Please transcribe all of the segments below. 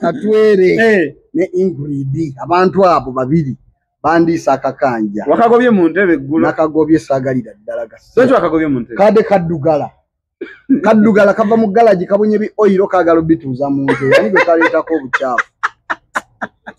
katwere eh. ne ingrid abantu abo babiri bandiisa akakanja wakagobye mu ntebe eggulu nakagobye saagalira ddala gasi wakagobye mu ntebe kade kaddugala kaddugala kava mu galagi kabunye bi oyiro kaagala obituuza mu ntebe ani gwe kaleetako obukyafu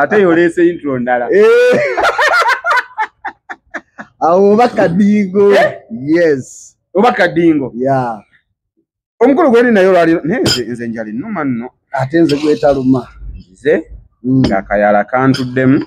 ate yoleese intro ndala eh. awo oba kadingo eh? yes oba kadingo ya omukulu gwendi naye olwali naye nze njali numa nno ate nze gwetaluma nze mm. ngakayala kantuddemu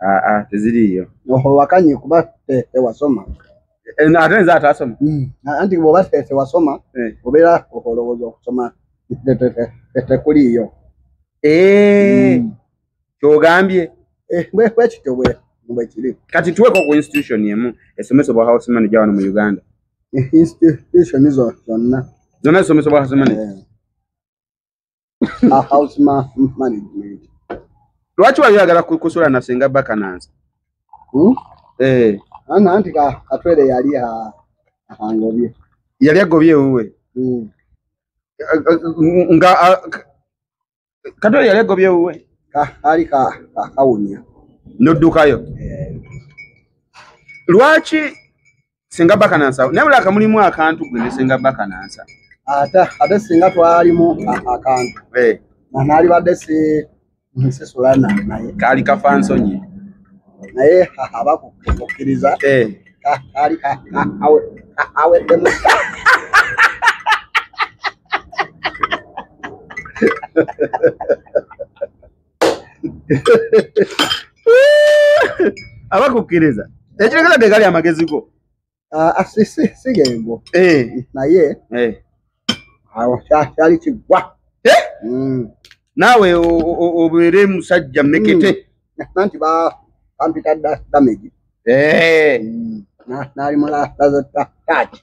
Ah, ah, teziriiyo oho wakanye kuba te- tewasoma Eh, na- ate nze ataasoma Mm. A- anti bwoba te- tewasoma Eh. obeera olowooza okusoma te- te- te- te- tekuliiyo Eh, Mm. kyogambye Eh, bwe- bwe kityo bwe- bwe kiri kati tuweko ku institution emu esomesebwa house manager wano mu uganda Eh, institution zo- zonna zonna zisomesebwa house manager Eh, a house ma management lwaki wali oyagala kusula na senga bakananza hmm? eh. ana nti katwere yali angobye yali agobye ewuwe hmm. nga katwere yali agobye ewuwe ali kakawunya noddukayo eh. lwaki senga bakanansa naye bula akamulimu akantu gwe ne senga bakanansa ate ate singa twalimu akantu eh. nanaali badde si nsisula nanaye kaali kafa nsonyi naye abakukkiriza eh. kaali aweddemu abakukkiriza ekiregeza tegali amagezi go ah, ah, sigengo eh. naye eh. awo kyali kigwa mm. naawe obeere musajja mekete mm. nanti bampita damage mm. nali mulaazetta taaki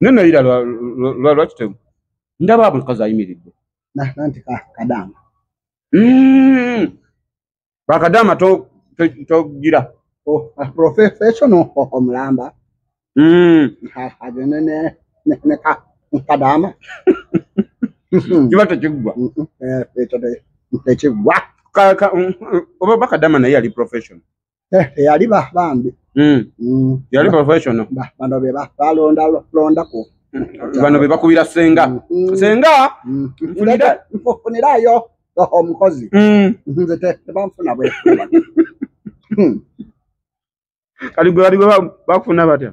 naye nayira lwaki temu ndaba abo kazi ayimiridde nanti kadaama hmm. bakadaama togira oh, ah, professional omulamba hmm. agende ne kadaama kiba tekiggwa eh, eh, tekiggwa oba bakadaama naye ali professional Eh, eyali ba bambi Mm. Mm, yali professional ba- bano be ba- balonda londako bano be bakubira senga Mm. senga Mm, nfunira- nfunirayo o- omukozi Mm. nze te- tebanfuna bwe Hmm. kati gwe bali gwe ba- bakufuna batya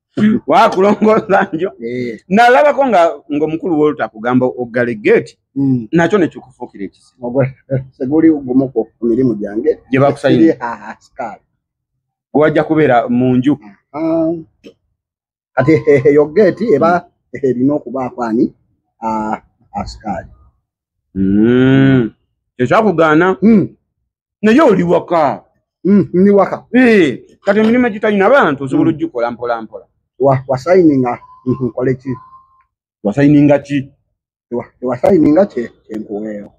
wakulongoosa njo eh. nalabako nga ngaomukulu wolta kugamba oggale geeti hmm. nakyo nekikufuukira ekiseguli gumu ku mirimu gyange gye bakusayinaaskaali wajja kubeera mu nju ah. kati eyo geeti eba erina okubaako ani ah, askaali hmm. ekyakugaana hmm. naye oli waka mm, ndi waka eh, kati emirimu egitalina bantu osobola mm. ogikola mpola mpola wasayininga mm-hmm, nkole ki wasayininga ki wasayininga kyenkuweeyo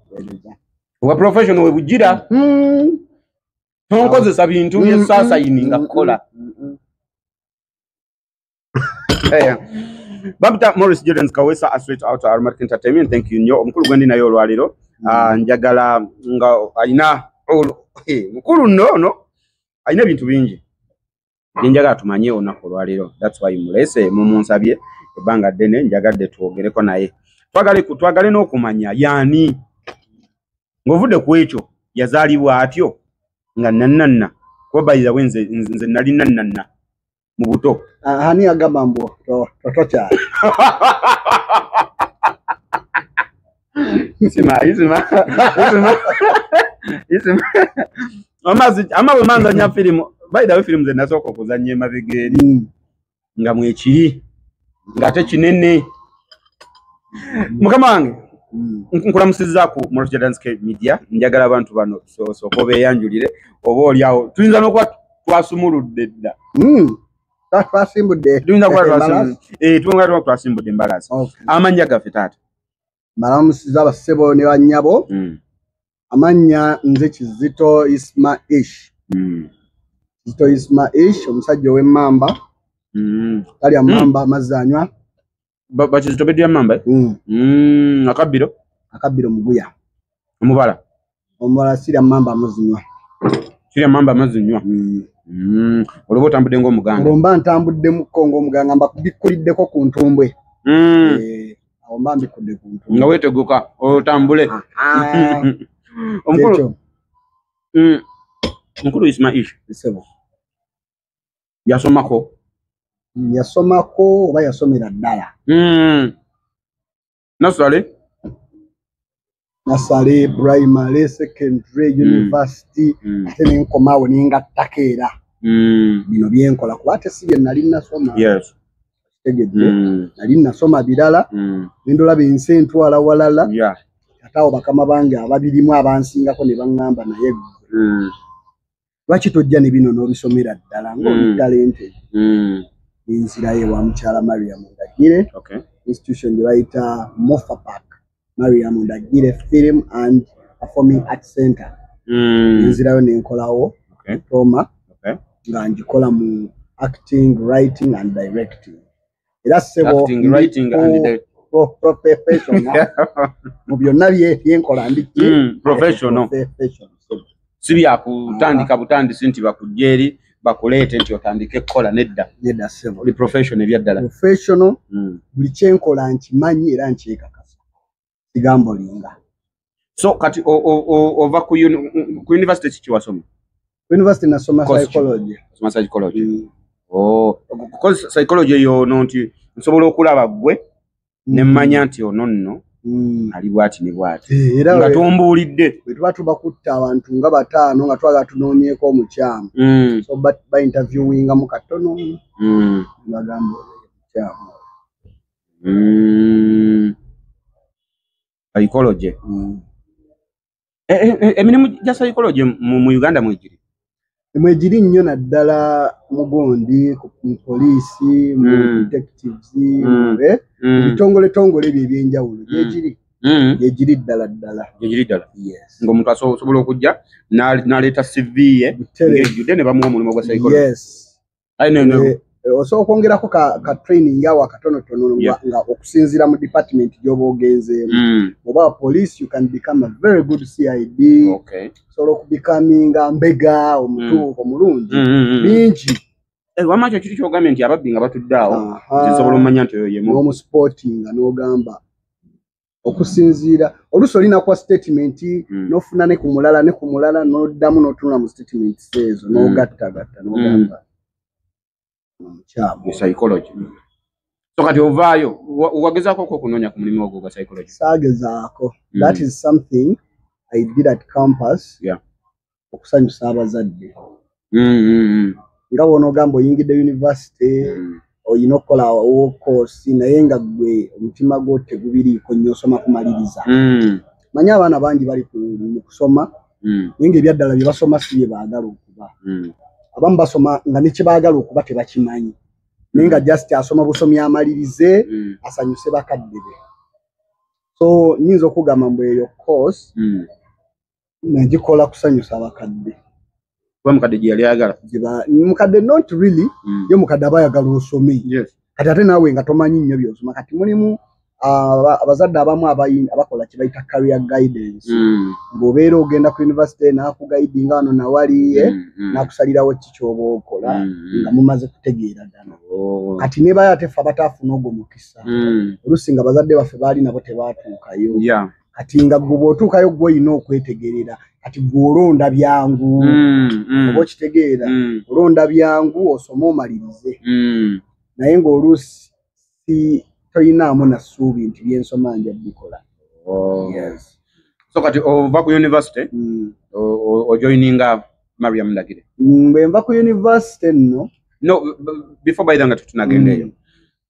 wa professional we bujira mm-hmm. tonkozesa bintu byesasayininga mm-hmm. kukola Eh, bamuta morris jordan kawesa aswet out armark entertainment thank you nnyo omukulu gwendi naye olwaliro mm. ah, njagala nga alina eh, mukulu nno ono alina ebintu bingi byenjagala tumanye olunaku olwaliro thats why mulese mumunsabye ebbanga ddene njagadde twogereko naye twagale twagale n'okumanya yaani ng'ovudde ku ekyo yazaalibwa atyo nga nannanna kuba bayizawe nze nali nannanna mu buto Ah, ani agamba mbu to- to- tokyala isima isima isima isima amazi ama bwe manzanya firimu bayidawe firimu ze nasooka okuzanya emabega eri Mm. nga mwekiri ng'ate kinene mukama wange Mm. nkulamusizaaku mulotya dance cave media njagala abantu bano so- sooka obeeyanjulire oba olyawo tuyinza n'okuba twasumuludde dda hmm. twasimbudde tuyinza kuba eh, twasimbudde embalaasi amannya gaffe taata malamusiza basebo ne bannyabo hmm. amannya nze kizito isma ish hmm. kizito isma ish omusajja ow'emmamba talya mmamba amazzi anywa Ba- bakizito bedira mamba eh? Mm, Mm, akabbiro akabbiro muguya omubala omulala sira mamba muzinywa kirya mamba amazzi nywa Mm. Mm, olwoba otambudde ng'omuganda olwo mba ntambuddemuko ng'omuganga mba bikkuliddeko ku ntumbwe Mm, Eh, awo mba mbikudde ku ntumbwe nga weeteguka otambule Ah, ah, omukulu kyekyo. mm, mukulu ismail Ssebo. yasomako yasomako oba yasomera ddala hmm. nasale nasale primary secondary hmm. university hmm. ate nenkomawo nengattako era bino byenkola kuba ate si bye nali nasoma tegedde nali nasoma birala nendolaba ensi entwala walala ate awo bakama bange ababirimu abansingako ne baŋŋamba naye lwaki tojja ne bino n'obisomera ddala ng'oli mm. talente mm. nenzirayo ewa mukyala mariam ndagire institution gye bayita mofa park mariam ndagire film and performing art center mm. nenzirayo nenkolawo diploma nga ngikola mu acting writing and directing era ssebo mu byonna byenkola ndiki si byakutandika butandisi nti bakujja eri bakuleete nti otandike kukola nedda oli profession ebyaddala hmm. buli kyenkola nkimanyi era nkyekakasa kigambo linga so kati ova ku university kiki wasoma university nasoma psychology soma psychology mm. oh because psychology yo no nti nsobola okulaba gwe mm. ne manya nti ono nno mm. ali bwati ne bwati eh, era nga tombuulidde bwe tuba tuba kutta abantu nga bataano nga twagala tunoonyeeko omukyamu mm. so ba interviewinga mu katono mm. bagamba omukyamu Mm. Psychology. Mm. E, e, e, emirimu gya psychology mu, mu Uganda mwegiri? Mwegiri nnyo naddala mugundi mu poliisi, mu mm. detectives, mm. eh? mm. bitongole tongole ebyo ebyenjawulo mm. gyegiri. Mm. Gyegiri ddala ddala. Gyegiri ddala. Yes. Nga omuntu asobola okujja n'aleeta CV ye ng'ejjudde ne bamuwa omulimu gwa psychology. Yes. I don't know. Eh, eh, osobola okwongerako ka, ka training awo akatonotono yeah. nga okusinziira mu department gyoba ogenzeemu mm. oba police you can become a very good cid okay. osobola okubikaminga mbega omutuuko mm. omulungi mm, mm, mm. bingi mm. Eh, wama kyo kiri kyogambye nti ababbi nga batudde awo nsobola omumanya nti oyo yemuomusportinga nogamba okusinziira oluusi olina kuwa statement mm. nofuna ne ku mulala ne ku mulala noddamu notunula mu statement ezo mm. nogattagatta nogamba mm. omukyamu psychology so kati ovaayo wagezaako ko okunoonya ku mulimu ogwo gwa psychology saagezaako mm. that is something i did at campus yeah. okusanyusa abazadde mm, mm, mm. nga bwonaogamba oyingidde univesity mm. olina okukola wokoosi naye nga gwe omutima gwo tegubiriiko nnyo osoma kumaliriza mm. manye abaana bangi bali mu kusoma mm. naye nga ebyaddala bye basoma si bye baagala okuba mm. abamu basoma nga nekyebaagala okuba tebakimanyi naye nga mm. just asoma busomi amalirize mm. asanyuse bakadde be so nyinza okugamba mbu eyo course mm. nagikola kusanyusa abakadde kuba mukadde gye yali ayagala mukadde not really mm. ye mukadde aba ayagala osome yes. kati ate naawe nga tomanyi nnyo byosoma kati mulimu abazadde abamu abakola kyebayita career guidance mm. ngaobeera ogenda ku university nakugayidi nga wano nawali eh, mm, mm. nakusalirawo ki kyoba okola nga mumaze kutegeera dano oh. kati nebayo atefe abataafuna ogwo mukisa olusi nga bazadde baffe baali nabo tebatuukayo kati nga gwe bwotuukayo gwe olina okwetegerera kati gwe olonda byangu mm, mm. oba okitegeera mm. olonda byangu osome omalirize naye ng'oluusi si toyinaamu na ssuubi nti byensoma nja bikola oh. so kati ova ku univesity ojoininga mariam ndagire bwe nva ku univesity nno no before baidha nga tetunagendaeyo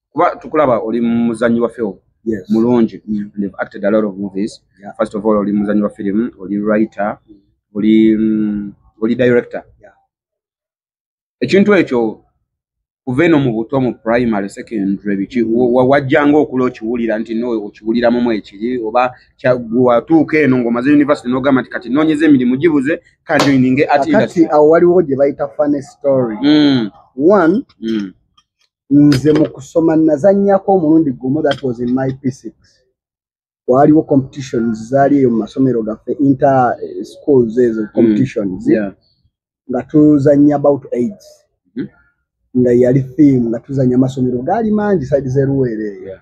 kuba tukulaba oli muzanyi wa film yes. mulungi mm. and you've acted a lot of movies yeah. first of all oli muzanyi wa film oli writer mm. oli mm, oli director yeah. ekintu ekyo kuva eno mu buto mu primary secondary biki wajjanga okula okiwulira nti no okiwuliramu mu ekiri oba watuuka eno ng'omaze university n'ogamba nti kati noonyeza emirimu gibuze kanjoininge atkati awo waliwo gye bayita funny story mm. one mm. nze mu kusoma nazanyako omulundi gumu that was in my p6 waaliwo competitions zaali eyo mu masomero gaffe inter eh, schools ezo mm. competitions mm, yeah. nga tuzanya about aids mm -hmm. nga yali theme nga tuzanya amasomero gaali mangi side zeruweere eyo yeah.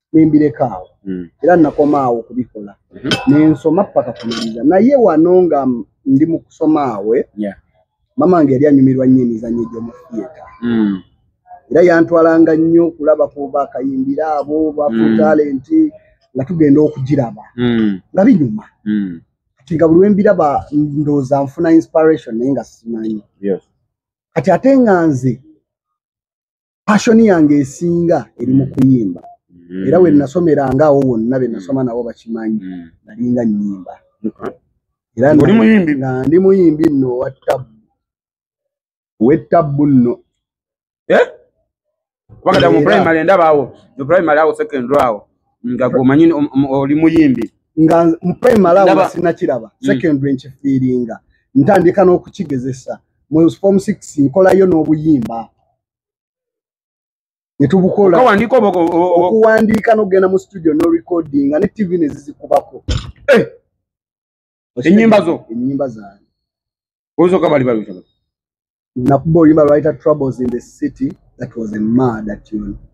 nembireka awo mm. era nakoma awo okubikola mm -hmm. nensoma paka kumaliza naye wano nga ndi mu kusoma awe yeah. mama nge yali anyumirwa nnyo emizanyo egyomufiyeta mm. era yantwalanga nnyo okulaba ku bakayimbira abo bafu mm. talenti nga tugenda okugiraba mm. nga binyuma mm. kati nga buli wembiraba ndooza nfuna inspiration naye nga simanyi yes. kati ate nga nze passion yange esinga eri mu kuyimba mm. era wenasomeranga awo wonna benasoma mm. nabo bakimanyi mm. nalinga nyimba era ndi muyimbi nno owattabu owettabu nno eh? wakati mu primary ndaba awo mu primary awo secondary awo nga gomanyi oli muyimbi nga mu primary awo nga sinakiraba mm. secondary mm. nkifiiringa ntandika n'okukigezesa mu form six nkolayo n'obuyimba netubukola okuwandiika nokugenda mu studio no recordinga ne tv nezizikubako eh! enyimba zo enyimba zange ozoka bali babita nakuba oluyimba lwayita troubles in the city that was a mad atune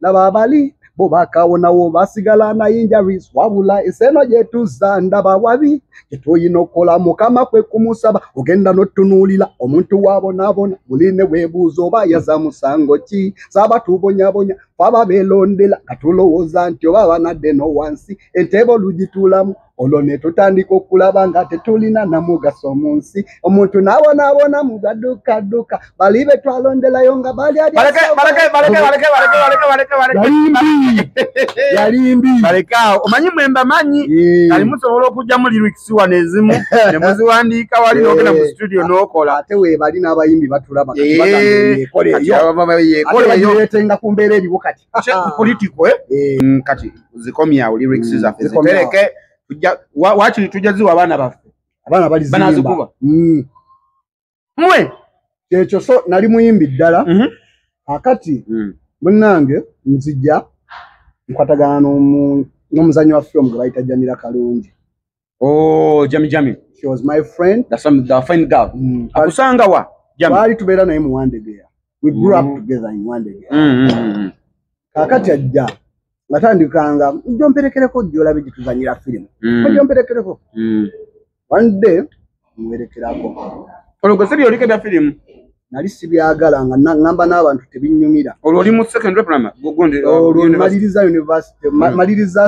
laba abali bo bakawonawo basigala na injuries wabula eseno gyetuza ndaba wabi kyetuyina okukola mukama kwe kumusaba ogenda notunuulira omuntu wabonaabona muli ne webuuza oba yaza musango ki saba tubonyabonya faba belondera nga tulowooza nti oba banadde no wansi entebe olugituulamu olwo ne tutandika okulaba nga tetulina namugaso mu nsi omuntu n'abonaabona mu gaduukadduka bali be twalonderayo nga balyalyalimbibalekaawo omanyi mwe mbamanyi ali musobola okugyamu lirikisiwa nezimu ne muziwandiika wali nogenda mu situdio n'okola ate webali n'abayimbi batulaba yekoleyoyekoleyoetenga ku mbeera eriwo kati political eh? eh mm, kati zikomya u lyrics mm, za fezi peleke tuja wachi tuja ziwa bana bafe abana bali zimba bana zikuba mm. mwe checho so nali muimbi dala mm -hmm. akati mm. munange nzija nkwatagana no mu no muzanyo wa film gwaita jamira kalungi oh jami jami she was my friend that's some the fine girl mm. akusanga wa jami bali tubera naye mu one day we grew mm. up together in one day mm, mm, mm. kakati ajja natandikanga njomperekereko jolabe jituzanyira film mm. njomperekereko mm. one day muwerekerako olwo gwe sibyo oliko ebya firimu nali sibyagala nga namba n'abantu tebinyumira olwo oli mu secondary primary gundi uh, olwo maliriza university hmm. maliriza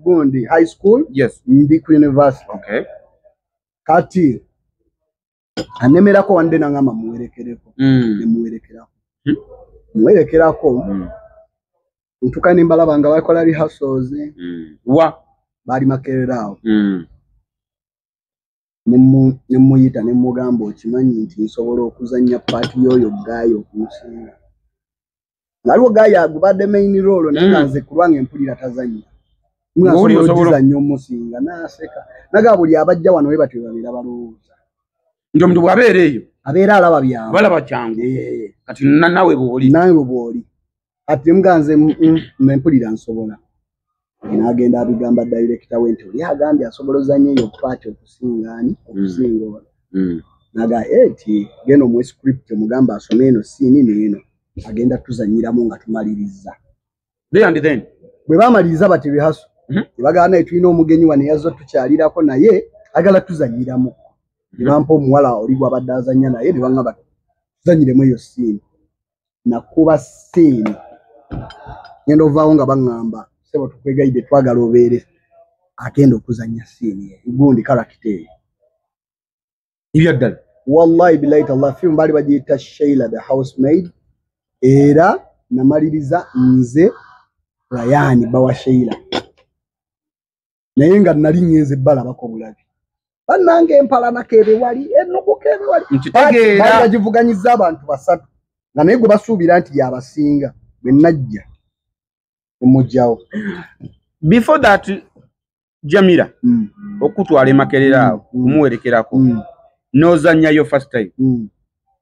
gundi high school yes ndi ku university okay kati anemerako wande nangamba muwerekereko hmm. nemuwerekerako hmm. muwerekerako ntuka nembalaba nga bakola rehearsals wa bali makereraawo ne mmuyita ne mmugamba okimanyi nti nsobola okuzannya paati y'oyo gaayi okumusinga naliwo gaayi agubadde main roolo naye nga mm. nze ku lwange mpulira tazannya mwasobolokizannya omusinga n'aseka naga buli abajja wano we batyo babeera balowooza nti omuntu bw'abeera eyo abeera alaba byangu balaba kyangu kati nawe bwoli nawe bwoli ati mbwa nze mm, mm, nze mpulira nsobola n'agenda abigamba dayirekita we nti oli agambye asobola ozanya eyo paati okusinga ani mm. okusinga ono naga eti eh, genda omuwe script omugamba asome eno siini neeno agenda tuzanyiramu nga tumaliriza bwe bamaliriza bati bihaso mhm. nebagamba naye tulina omugenyi wa neyazza tukyalirako naye agala tuzanyiramu nebampa mhm. omuwala oli gwabadde azanya naye nebagamba tuzanyiremu eyo siini nakuba siini ngenda ovaawo nga baŋŋamba sebo tukwegayidde twagala obeere agenda okuzannya siini gundi karakita eyo ibya ddala wallahi bilahi tallah film baali bagiyita sheila the house maid era namaliriza nze rayani bawa sheila naye nga nali ngenze balabako bulabi banange empalanako ebe wali enukuka ebe wali bagivuganyiza abantu basatu nga naye gwe basuubira nti yabasinga bwe najja omugyawo before that jamira mm. okutwala emakerera awo mm. mm. kumuwerekerako mm. nozanyayo first time mm.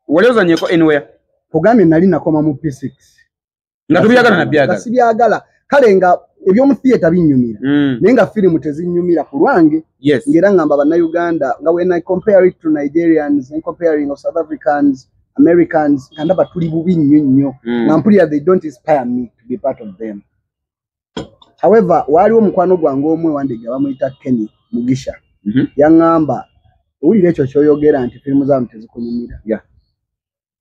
wali ozanyeko anywhere ogambye nali nakoma mu p6 nga tubyagala nabyagala sibyagala kale nga ebyomu theatre binyumira mm. naye nga firimu tezinyumira ku lwange yes. ngaera ngamba bannayuganda nga when i compare it to nigerians and comparing of south africans americans nga ndaba tuli bubi nnyo nnyo mm. nga mpulira they don't inspire me to be part of them however waaliwo omukwano gwange omu ewandege abamuyita kenny mugisha mm -hmm. yaŋŋamba owulira ekyo kyoyogera nti firimu zaamu tezikunyumira yeah.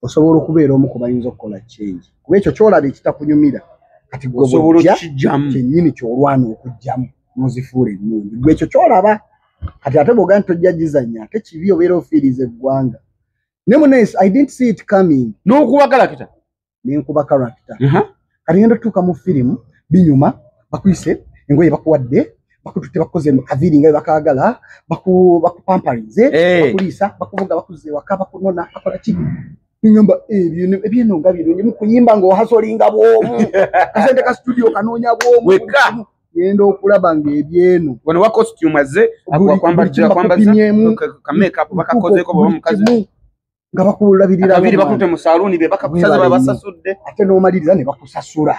osobola okubeera omu kubayinza okukola change kuba ekyo kyolaba ekitakunyumira kati gweoja kyenyini kyolwana okugjamu nozifuula ennungi gwe ekyo kyolaba kati ate boga nti tojja gizanya ate kibi obeera ofiiriza eggwanga ne munes i didn't see it coming nokuba karakita nenkuba karakita kati ngenda tutuuka mu firimu binyuma bakuyise engoye bakuwadde bakututte bakukoze kaviri nga bebakagala bakupamparinze eh. bakuliisa bakuvuga bakuza ewaka bakunona bakola ki nyumba ebyo ebyeno nga birungi mukuyimba nga ohasolinga bwomu kasente ka studio kanoonya bwomu weka genda okulaba nga ebyeno wano wa costume azze wakwambazza kwambazza ka makeup bakakozeeko baba mukazi nga bakulabirira abiri bakute mu saluni be bakakusaza babasasudde ate n'omaliriza ne bakusasula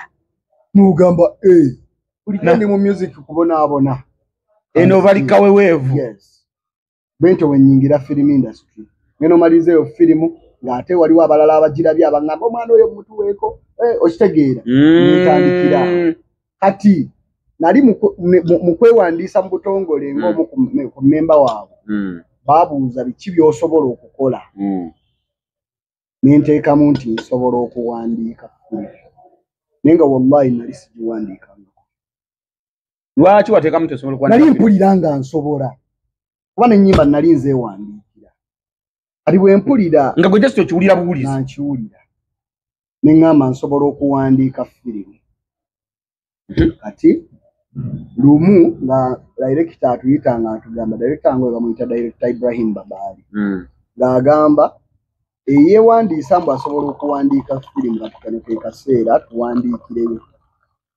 n'ogamba eh buli kyendi mu music kubonaabona eno bali kaweweevu yes bwentyo wenyingira film industry ngeno malize yo film nga ate waliwo abalala abagirabye abangamba omwana oyo mutuweeko eh, okitegeera mm. ntandikira kati nali mu kwewandiisa mu butongole hmm. ng'omu ku mmemba waabwe hmm. baabuuza biki by'osobola okukola hmm. ne nteekamu nti nsobola okuwandiika naye nga wallahi nali sigiwandiikangako lwaki wateekamu nti osobola okuwandiika nali mpulira nga nsobola kuba n'ennyimba nali nzeewandiika kati bwempulira nga gwe just okiwulira buwulizi nkiwulira ne ŋŋamba nsobola okuwandiika firimu mhm. kati lumu nga direkita atuyita nga atugamba direkita nga webamuyita direkita ibrahim babaali mm. ng'agamba eyewandiisa mbu asobola okuwandiika firimu kati kano ke kaseera tuwandiikireyo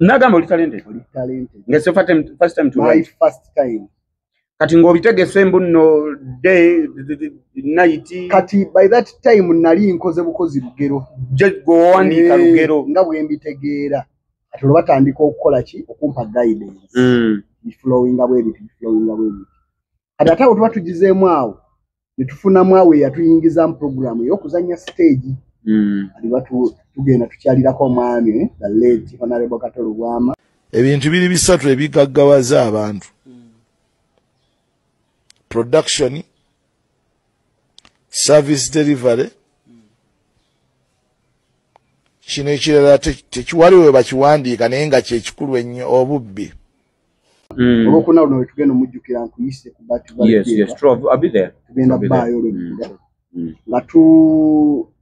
nagamba oli talented oli talented nga so fatem first time to my first time kati ng'obitegese mbu no day night kati by that time nali nkoze bukozi lugero je gwowandiika eh, lugero nga bwe mbitegeera kati olwo batandika okukola ki okumpa guidance mm. iflowinga bwebiti iflowinga bwebiti kati ate awo tuba tugizeemu awo netufunamu awo eyatuyingizamu puroguramu eyokuzanya siteegi hmm. aliba tugenda tukyalirako omwami eh, the late honorable kato lubwama ebintu biri bisatu ebigaggawaza abantu production service delivery kino ekirala tekiwaliwo webakiwandiika naye nga kyekikulu ennyo obubbi Mm. olwokuna luno wetugenda omujjukira nkuyise ku batugenda baayo olwekula mm. nga tu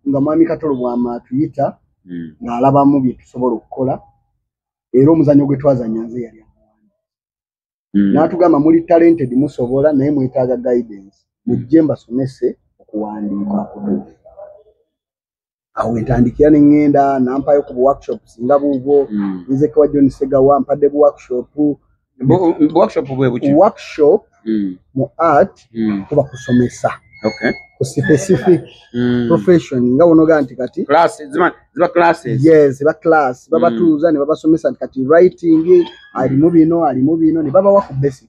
nga mwami katolo bwama atuyita mm. ng'alabamu bye tusobola okukola era omuzanyo gwe twazanya nze yali n'atugamba muli talented musobola naye mwetaaga guidance mujje mbasomese okuwandiika kutuufu awo entandikira ne ŋŋenda nampayo ku buworkshops nga buubwo mm. nze kewa john segawa mpadde buworkshop workshop bwe buki workshop mm. mu art mm. kuba kusomesa okay ku specific mm. profession nga wonoga nti kati classes ziba ziba classes yes ziba class baba mm. tuza ne baba somesa nti kati writing ali mu bino ali mu bino ne baba wa ku basic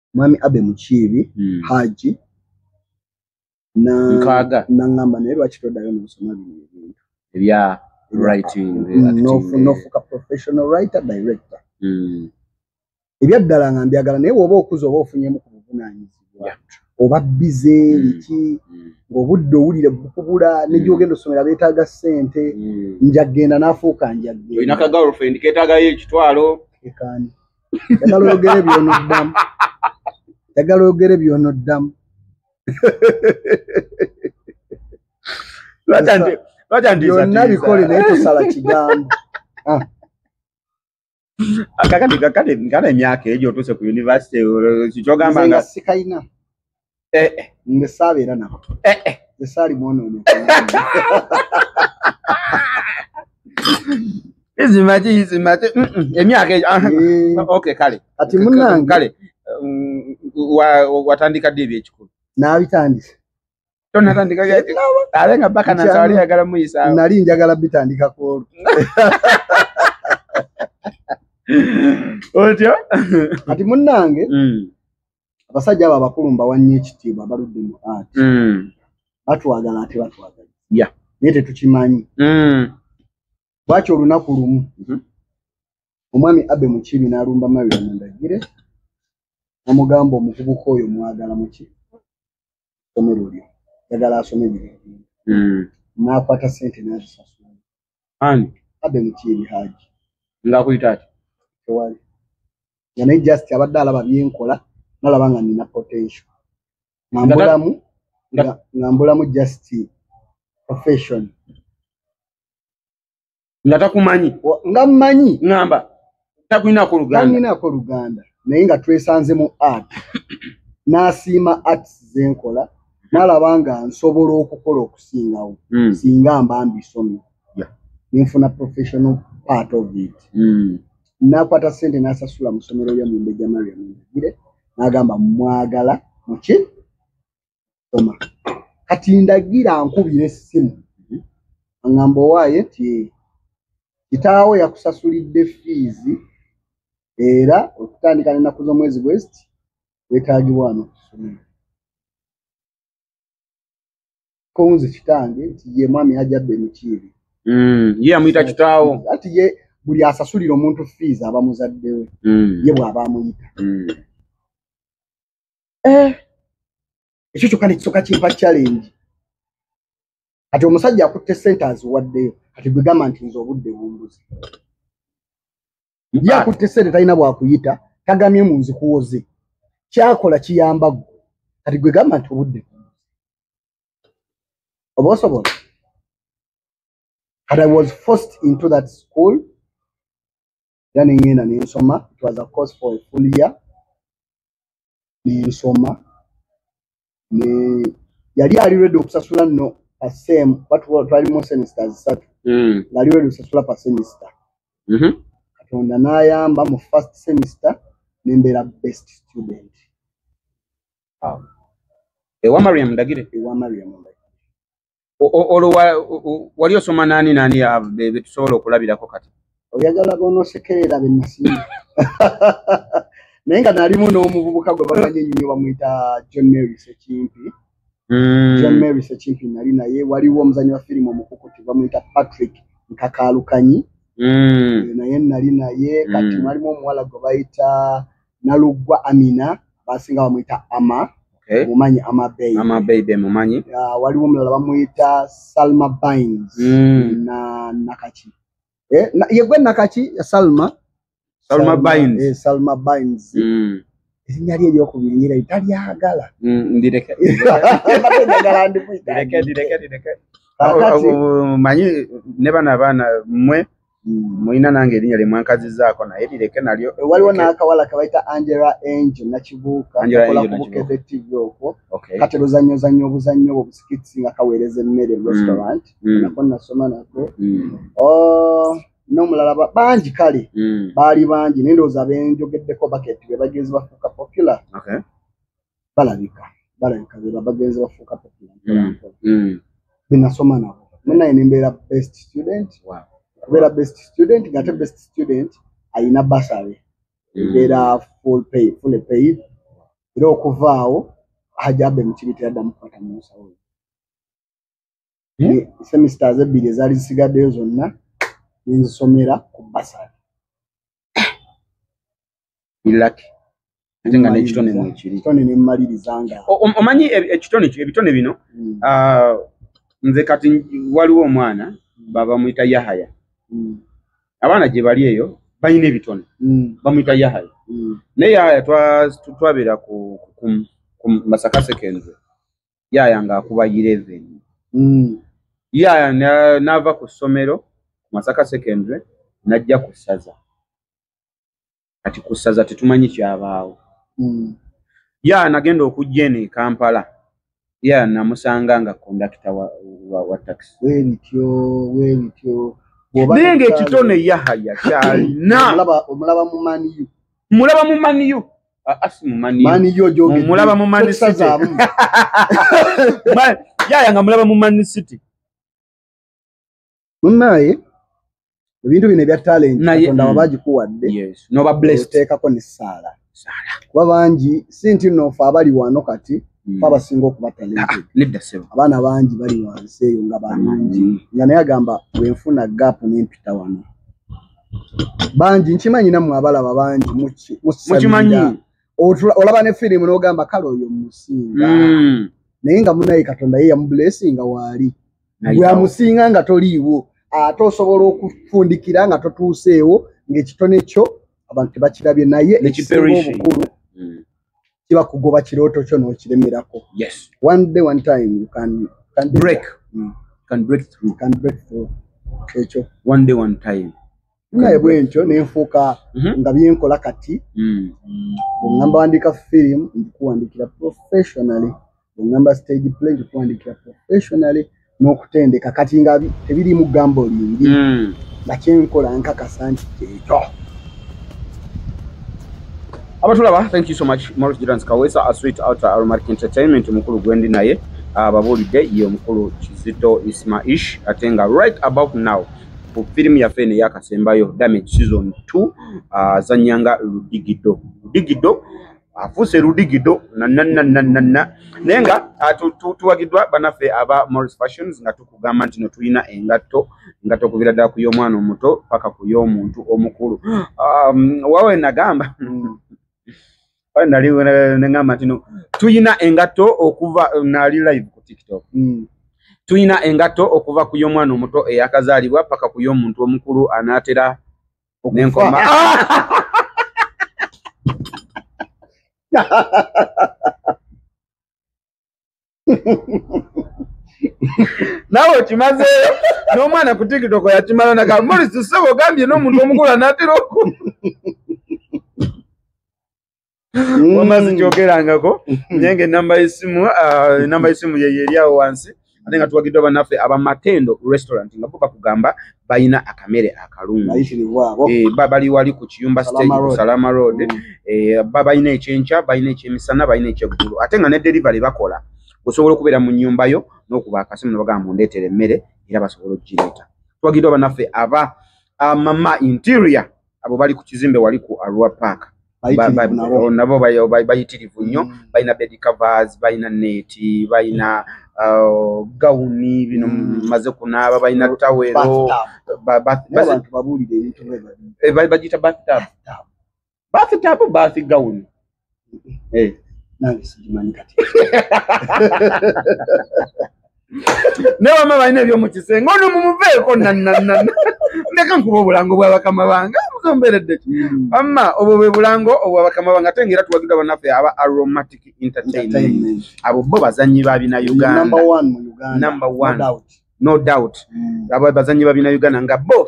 mwami abe mukiibi mm. haji nkaaga naŋŋamba naye lwaki toddayo noosoma bino ebintu ebya writing mm, nofuuka professional writer director mm. ebyaddala nga mbyagala naye woba okuza oba ofunyemu ku buvunanyizibwa oba bize mm. biki ng'obudde owulire bukubula negyogenda osomera beetaaga ssente njaggenda n'afuuka njaggeolina ka girlfriend keetaagayo ekitwalo ekaani njagala oyogere byonoddamu njagala oyogere byonoddamu byonna bikole naye tosala kigambo ah. kakati kakati kana emyaka egyo otuuse ku univesity kikyogamba nga sikalina eh, eh. nze saabeera nabo eh, eh. nze saali mwonoone izimaki izimaki mm, mm, emyaka egyo ah, eh. ok kale kati munange kale mm, watandika ddi ebyekikulu naabitandise tonatandika ate nga baka nasawali yagala muyisaawo nali njagala bitandika kwolu otyo kati munange abasajja abo abakulu mbawa nnyo ekitiibwa baludde mu art mm. batwagala ate batwagala naye tetukimanyi mm. lwaki olunaku lumu mm-hmm. omwami abe mukibi n'alumba mawira mundagire namugamba omuvubuka oyo mwagala muki somero lyo yagala asome biri mm. nakwata sente nazisasula ani abe mukiiri haji ngakuyita ati tewali nga naye just abadde alaba byenkola nalaba nga nina potential ngambulamu ngambulamu just profession nga takumanyi nga mmanyi ŋamba takulinako lugandalinako luganda naye nga twesanze mu art n'asiima arts zenkola nalaba nga nsobola okukola okusingawo hmm. singa mba mbisomye nenfuna professional part of it hmm. nakwata sente nasasula musomero lya mumbeja mariam nagire nagamba mwagala muki soma kati ndagira nkubira essimu aŋamba owaaye ti kitaawo yakusasulidde fiizi era okutandika nenaku z'omwezi west wetagibwa ano kusomero konze kitange nti ye mwami hajabbe mikiibi mm, ye amuyita kitaawo ati ye buli asasulira omuntu fiizi aba muzaddewe mm. ye bw'aba amuyita mm. eh, ekyo kyokka nekisoka kimpa challenge kati omusajja akutte sente aziwaddeyo kati gwegamba nti nze obudde bumbuzi ye akutte sente talina bwakuyita tagamye mu nzikuwoze kyakola kiyamba gwe kati gwegamba nti obudde oba osobola kati i was forced into that school era ne ŋŋenda ne nsoma it was a course for a full year ne nsoma ne yali ali redi okusasula nno pasem twalimu semisita zisatu hmm. ngaali redi okusasula pa semisita mm-hmm. katonda n'ayamba mu first semisita ne mbeera best student ewa mariam ndagire ewa mariam ndagire olwo wali osoma nani nani betusobola okulabirako kati oyagala bonosekerera benasimu naye nga nalimu n'omuvubuka gwe bamanyi ennyo bamwita john mary sekimpi hmm. john mary sekimpi nali naye waliwo omuzanyi wa firimu omukukuti bamwita patrick nkakalukanyi hmm. naye nali naye kati hmm. mwalimu omuwala gwe bayita naluggwa amina abasinga bamuyita ama eh? mumanyi amabeibe mumanyi waliwo omulala bamuyita salma bines mm. na nakaki eh, na, yegwe nakaki salma salma bines eh, salma bines mm. erinnya lye eryokubiri nyira talyagala mm, ndireke manyi ne bano abaana mwe mulina nange erinya lyemwankazizaako naye lireke nalyo eh, waliwo nakawala kebayita angela angel nakibuuka akola ku bukede tv okwo kati luzanyozanya obuzannyo obwo busikitsi nga kaweereza emmere mu mm. restaurant mm. nako nasoma nako mm. oh, nomulala bangi kale baali bangi naye ndowooza benjogeddeko baketi bebagezi bafuuka popular balabika balabika beba bagenzi bafuuka popular mpola mm, mpola mm. benasoma nabo munaye nembeera best student Wow. okubeera best student ngate best student alina basary Mm. embeera full pay full paid era okuvaawo hajabe mukibitira ddamu kukwata munsawo hmm? semesters ebbiri ezaali zisigaddeyo zonna nenzisomera ku basari ilaki ate nga nekitone mwekiri kitone nemmaliriza nga omanyi ekitone ebitone bino hmm. ah, nze kati waliwo omwana hmm. baba muyita yahaya hmm. abaana gye bali eyo balina ebitone bamuyita yahaya naye yahaya twabeera ku masaka sekenze yaaya ng'akuba yireveni mm. yaaya n'ava ku ssomero masaka secondary n'ajja ku ssaza kati ku ssaza tetumanyi kyabaawo mm. yaaya nagenda okujja eno e kampala yaaya namusanga nga kondakita wa, wa, wa takisi webityo webityo naye ngaekitone yahaya kyalina omulaba mumaniyu mumulaba mu yaya nga mulaba mu man city munaye ebintu bino ebya talent katonda mm. wabagikuwadde nobablestekako nesaala kuba bangi si nti nofe abali wano kati mm. abasinga okuba talented ah, nedda sebo abaana bangi bali wansi eyo nga bangi nga naye agamba bwenfuna gap nempita wano bangi nkimanyi namwe abalaba bangi mukimanyi olaba ne firimu nogamba kale oyo musinga mm. naye nga munaye katonda ye yamublessinga waali gweamusinga nga toliiwo ate osobola okufundikira nga totuuseewo ng'ekitone kyo abantu tebakirabye naye ekisinga obukulu mm. kiba kugoba kirooto kyo n'okiremerako yes one day one time you can, can break mm. can break through can break through ekyo one day one time naye bwentyo nenfuuka mm -hmm. nga byenkola kati mm. ngamba wandika film ndikuwandikira professionally enamba stage play tukuwandiikira professionally n'okutendeka kati nga tebiriimu gambo lingi hmm. nga kyenkola nkakasa nti kyekyo abatulaba thank you so much maurice jirans kawesa a sweet outer aromatic entertainment mukulu gwendi naye ababuulidde ye omukulu kizito ismaish ate nga right about now ku firimu yaffe eno eyakasembayo damage season t azanyanga uh, ludigido ludigido afuuse ludigido nananananana naye nga ah, tuwagiddwa banaffe aba morris fashions nga tukugamba nti no tulina engatto nga tokubira ddala ku y'omwana omuto paka ku y'omuntu omukulu um, wawe nagamba nalineamba nti no tulina engatto okuva nali live ku tiktok mm. tulina engatto okuva ku y'omwana omuto eyakazaalibwa paka ku y'omuntu omukulu anaatera nenkoma nawe okimazeeyo n'omwana ku tikitoko yakimala naga morisi sebo ogambye n'omuntu omukula natera oku Mm. wama sikyogerangako naye nga enamba yesimu ah, enamba yesimu yeyo eri awo wansi ate nga tuwagiddwa bannaffe aba matendo restaurant nga bo bakugamba balina akamere akalungi Bayitirirwa abo. Eh, ba- bali wali ku kiyumba stage Salama ku Road. salama road Mm. Eh, ba- balina ekyenkya balina ekyemisana balina ekyeggulu ate nga ne delivery bakola osobola okubeera mu nnyumba yo n'okuba akasimu nebagamba mundeetera emmere era basobola okugireeta twagiddwa banaffe aba ah, mama interior abo bali ku kizimbe wali ku arua park oh, nabo bayitirivu nnyo mm. balina bed covers balina neti balina uh, gawuni bino mm. maze kunaaba balina tawero bagita bathtub bathtub gawuni Eh, nange sigimanyi kati naye wama balina ebyomukisenge ono mumuveeko nanana ndeka nkuba obulango bwabakama bange muzomberedde ki mm. wamma obwo bwe bulango obwabakama bange ate ngaera tuwagidwa banaffe aba aromatic entertainment abo bo bazanyi babina uganda no doubt mm. abo bazanyi babina uganda nga bo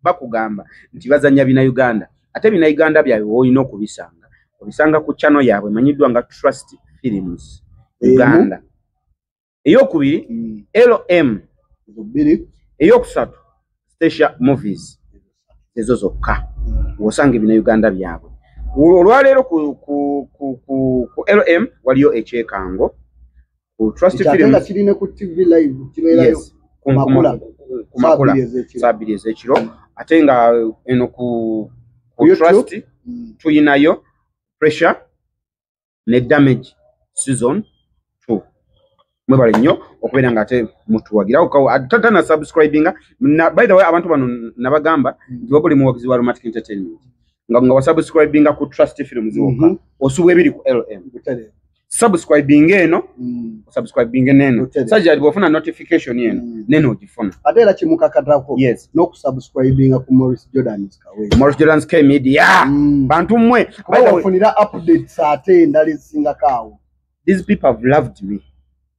bakugamba nti bazanya bina uganda ate bina uganda byabwe woolina okubisanga obisanga ku chano yaabwe emanyiddwa nga trust films uganda eyokubiri mm. lm eyokusatu stacia movies ezo zokka mm. wosanga ebina uganda byabwe olwaleero ku lm waliyo ekyekango ku trust Ekyatenda films kiri ne ku TV live kibeerayo. yes ku- ku- Makula. ku- ku- ku makula Saabiri ez'ekiro. saa bbiri ez'ekiro ate nga eno ku ku YouTube. trust Mm. tuyinayo pressure ne damage season two mwebale nnyo okubeera nga ate mutuwagira Uka- a- ta- tana subscribinga na, by the way abantu bano n- nabagamba nti wabuli muwagizi wa romantic entertainment nga, nga wasubscribinga ku trust films wokka Mhm. osubwa ebiri ku lm Butere. subscribing eno mm. subscribing eno sajja ali bofuna notification eno mm. neno ojifuna ate era kimukakatako yes no kusubscribinga ku Morris Jordan Skawe Morris Jordan Skawe media mm. bantu mwe bafunira updates ate ndali singa kawo these people have loved me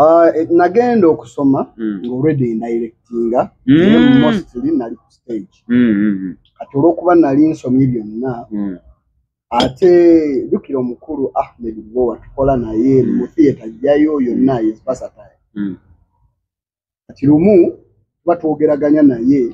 Ah, eh, nagenda okusoma mm. ngaolredi endirectinga mm. mostly nali ku stage mm, kati olwokuba nali nsomye byonna ate jukira omukulu ahmed bo watukola naye mu theatre jjayo yonna is versatile kati lumu tuba twogeraganya naye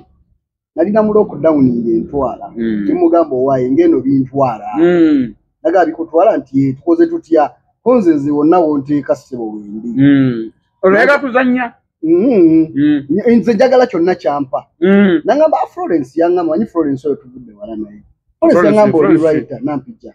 nalina mu lockdown ngentwala mm. kimugamba owaye ngeno bintwala mm. naga bikutwala nti eh, tukoze tutya konze nze wonna wonteeka sebo wendi mm. olwega tuzanya mm. mm. nze njagala kyonna kyampa mm. nangamba ah, florence yangamba manyi florence oyo tuvudde wala naye florence yangamba oli writer nampija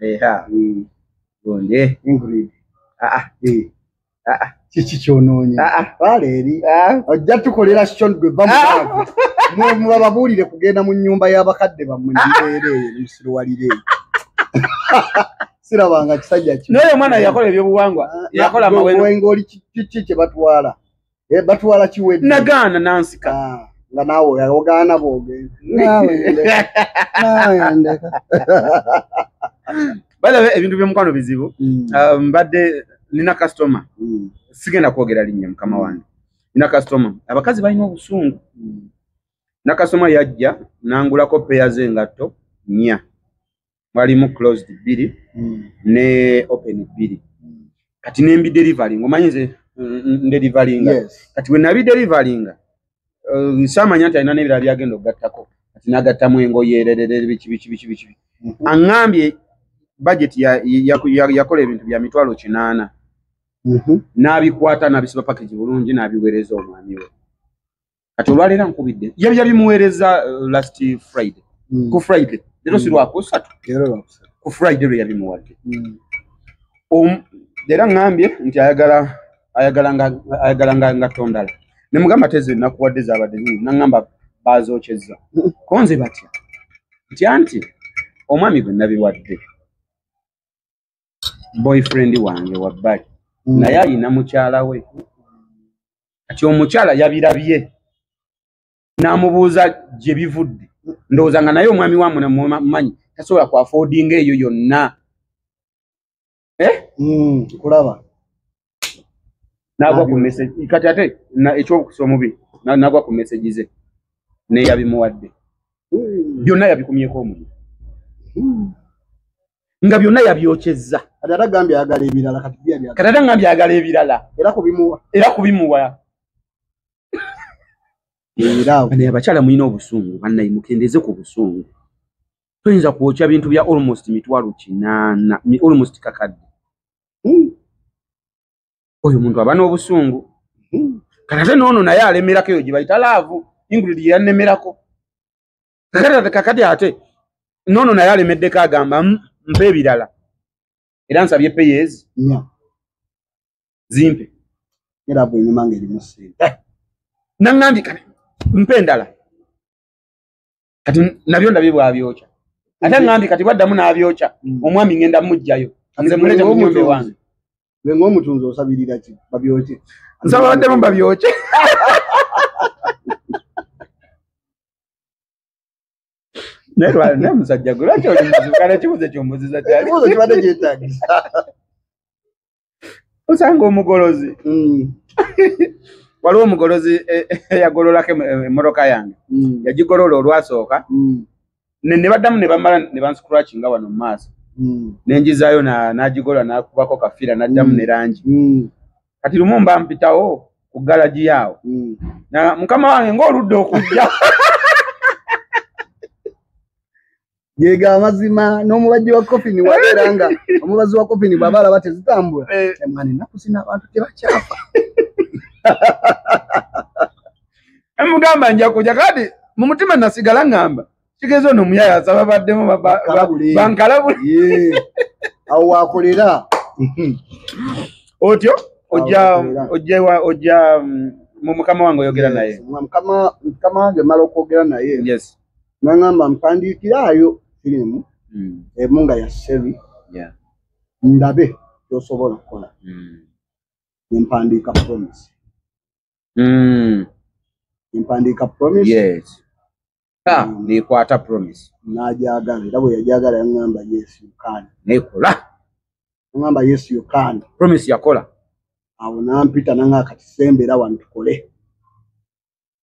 eha mm. gundi ingrid ah ah eh. ah ah kiki kyonoonye ah, ah. baleeri ah. ojja tukolera shon gwe bamubababuulire kugenda mu nyumba y'abakadde bammwe nibeere eyo nemusiruwalire sirabanga kisajja kinaye omwana yakola ebyobuwangwa yakola mawenga oli kiki kye batwala Eh, batwala kiwedde nagaana nansika ah, nga naawe ogaana bwogenda balaba ebintu byomukwano bizibu mm. ah, mbadde nina kastoma mm. sigenda kwogera linnya mukama mm. wange nina kastoma abakazi balina obusungu nakasoma yajja nangulako peya zengatto nya mwalimu closed bbiri hmm. ne open bbiri hmm. kati nembi delivaling omanyi nze ndelivalinga kati wenabi delivalinga uh, samanya nti alina nebirala byagenda okugattako kati nagattamu engoye erererere biki biki biki biki hmm. aŋambye bajeti yakola ebintu bya mitwalo kinaana n'abikwata n'abisiba pakagi bulungi n'abiweereza omwami we kati olwaleero ankubidde yali yabimuweereza uh, last friday mm. ku friday leero si mm. lwakusatu ku friday lwe yabimuwadde mm. era ŋŋambye nti ayagala ayagala ayagala nga nga tondala ne mugamba tezi nakuwadde zabadde nyini naŋŋamba baazokyezza konze batya ntya nti omwami gwe nabiwadde boyfriend wange wabbali mm. naye alina mukyala we kati omukyala yabirabye n'amubuuza gye bivudde ndowooza nga naye omwami wa muna mumanyi tasobola ku afodinga eyo yonna eh? mm, kulaba nagwa ku message kati ate ekyokusa omubi nagwa ku message ze neyabimuwadde hmm. byonna yabikumyeko omuliro hmm. nga byonna yabyokyezza kati ate ngambye ayagala ebirala era kubimuwa naye abakyala mulina obusungu banaye mukendeze ku busungu toyinza kwokya bintu bya almost mitwalo kinaana almost kakadde Hmm. oyo muntu aba n'obusungu hmm. kakate noono naye alemerako eyo gye bayita laavu ingrid ye yannemerako kakati kakati ate noono naye alemeddeko agamba hmm, mpa ebirala era nsabye peyezi zimpe era bwenyuma nga erimu sente eh, naŋambika mpa endala kati nabyo ndabye bwabyokya ate ngambi kati bwaddamu n'abyokya mm. omwami ngenda mujjayo nze mulete munyumba ewange ne ng'omutunzi osabirira ki babyokye nsaba baddemu babyokye naye lwali naye musajja gwe lwaki oli muzibu kana kibuuzo kyombuziza kyali kibuuzo kibadde kyetagisa osanga omugolozi mm. waliwo omugolozi e, e, eyagololako emmotoka yange mm. yagigolola olwasooka mm. ne baddamu ne bamala ne banscratch nga wano mu maaso nenjizaayo n'agigolola n'akubako kafiira n'addamu ne langi kati lumu mba mpitawo ku galagi yaawo mukama wange ng'oludde okujja yega amazima n'omubajji wa kofini wabeera nga omubazi wa kofini bwaba alaba tezitambula eh. emwana ennaku zina abantu tebakyafa emugamba njakuja kati mu mutima nasigala ngamba kigeza ono omuyaya asaba baddemu bankalabule awo wakolera otyo ojja ojja ojja mm, mu mukama wange oyogera naye mukama wange mala okwogera naye naŋamba mpandiikiraayo firimu mm. emu nga ya seri ndabe kyosobola okukola mm. nempandiika promise mm. nempandiika promise nekwata promise najagala era bwe yajagala yaŋamba yes yukani nekola aŋamba yes yukani promise yakola awo nampita naŋa kati sembera wano tukole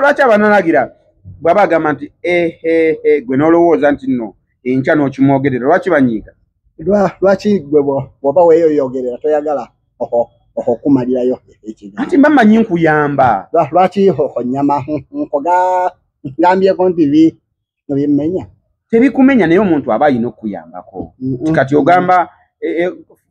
lwaki abanalagira bwaba agamba nti ehehe gwe nolowooza nti no enkya nokimwogerera lwaki banyiiga lwaki gwe bwoba weyoyogerera toyagala oho okumalirayo ekigambo anti mba manyi nkuyamba lwaki onyama nkoga ngambyeko nti bi nga byemmenya tebikumenya naye omuntu aba alina okukuyambako nti kati ogamba e, e,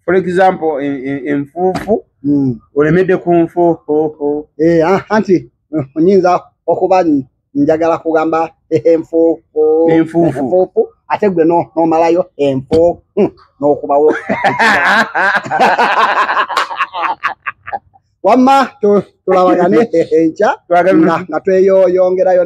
for example e, enfuufu mm. olemedde ku nfuufu eh, ah, anti onyinza okuba njagala kugamba enfuufu enfuufu ate gwe nomalayo empo hmm, nokubawo wamma tulabagane enkya nga tweyoyongerayo